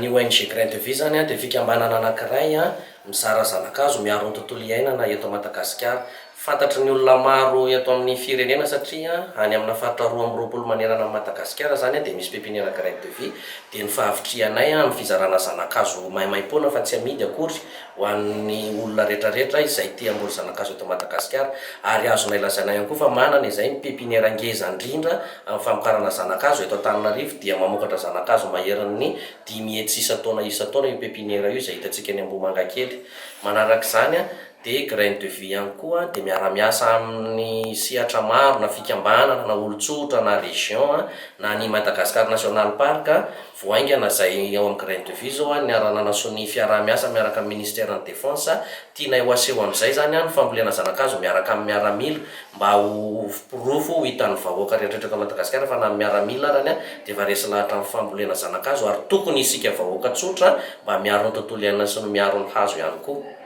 Ny ONG Grain de Vie izany dia fikambanana anankiray mizara zana-kazo miaro ny tontolo iainana eto Madagasikara. Fantatry ny olona maro eto amin'ny firenena satria any amina faritra roa amby roapolo manerana an'i Madagasikara izany dia misy pepiniera graine de vie dia ny fahavitrihanay amin'ny fizarana zana-kazo maimaim-poana fa tsy amidy akory ho an'ny olona retraretra izay te hamboly zana-kazo eto Madagasikara ary azonay lazaina ihany koa fa manana izay ny pepiniera ngeza ndrindra amin'ny famokarana zana-kazo eto Antananarivo dia mamokatra zana-kazo maherin'ny dimy hetsy isan-taona isan-taona io pepiniera io izay hitantsika eny Ambohimangakely manarak'izany dia Graines de Vie ihany koa dia miara-miasa amin'ny sehatra maro na fikambanana na olon-tsotra na région na ny Madagascar National Park vao haingana izay ao amin'ny Graines de Vie izao niara-nanasoa ny fiaraha-miasa miaraka amin'ny Ministère ny Défense tianay ho aseho amin'izay izany ny fambolena zana-kazo miaraka amin'ny miaramila mba ho porofo ho hitan'ny vahoaka rehetra eto Madagasikara fa na ny miaramila arany dia efa resy lahatra amin'ny fambolena zana-kazo ary tokony isika vahoaka tsotra mba miaro ny tontolo iainana sy ny miaro ny hazo ihany koa.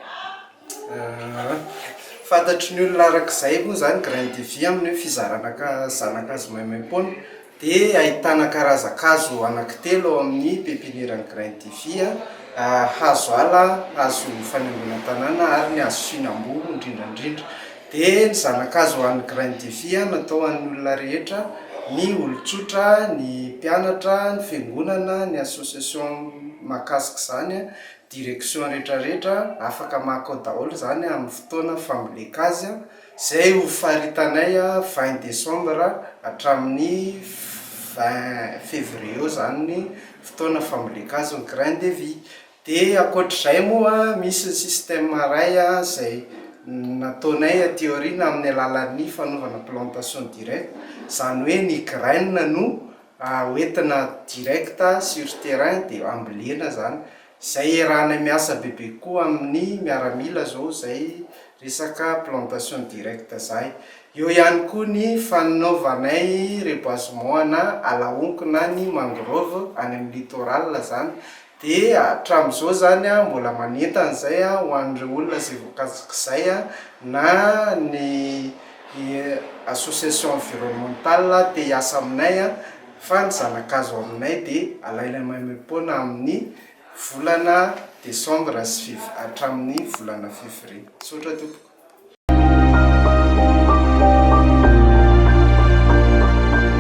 Ahh, fantatry ny olona araka izay moa zany graine de vie amin'ny hoe fizarana ka zana-kazo maimaim-poana dia ahitana karazan-kazo anankitelo ao amin'ny pepiniera graine de vie an, hazo ala, hazo fanaingoana tanàna ary ny hazo fihinam-boa indrindra indrindra. Dia ny zana-kazo ho an'ny graine de vie an natao ho an'ny olona rehetra, ny olon-tsotra, ny mpianatra, ny fiangonana, ny association mahakasika izany an, direction retraretra afaka maka ao daholo zany amin'ny fotoana famboleka azy zay ho faritanay vingt decembre hatramin'ny vingt fevrier eo zany ny fotoana famboleka azy ny grain de vie de ankoatr'izay moa misy ny système iray zay nataonay aty aoriana amin'ny alalan'ny fanaovana plantation directe zany hoe ny graine no Raha hoentina direct sur terrain dia ambolena zany. Izay iarahanay miasa bebe koa amin'ny miaramila zao zay resaka plantation direct zay. Eo ihany koa ny fanaovanay reboisement ana ala honko na ny mangrove any amin'ny littoral zany Dia hatramin'izao izany mbola manentana izay ho an'ireo olona izay voakasak'izay na ny association environnementale te hiasa aminay fa ny zana-kazo aminay dia alaina maimaim-poana amin'ny volana desambra sy fev- hatramin'ny volana fevrie. Misaotra tompoko.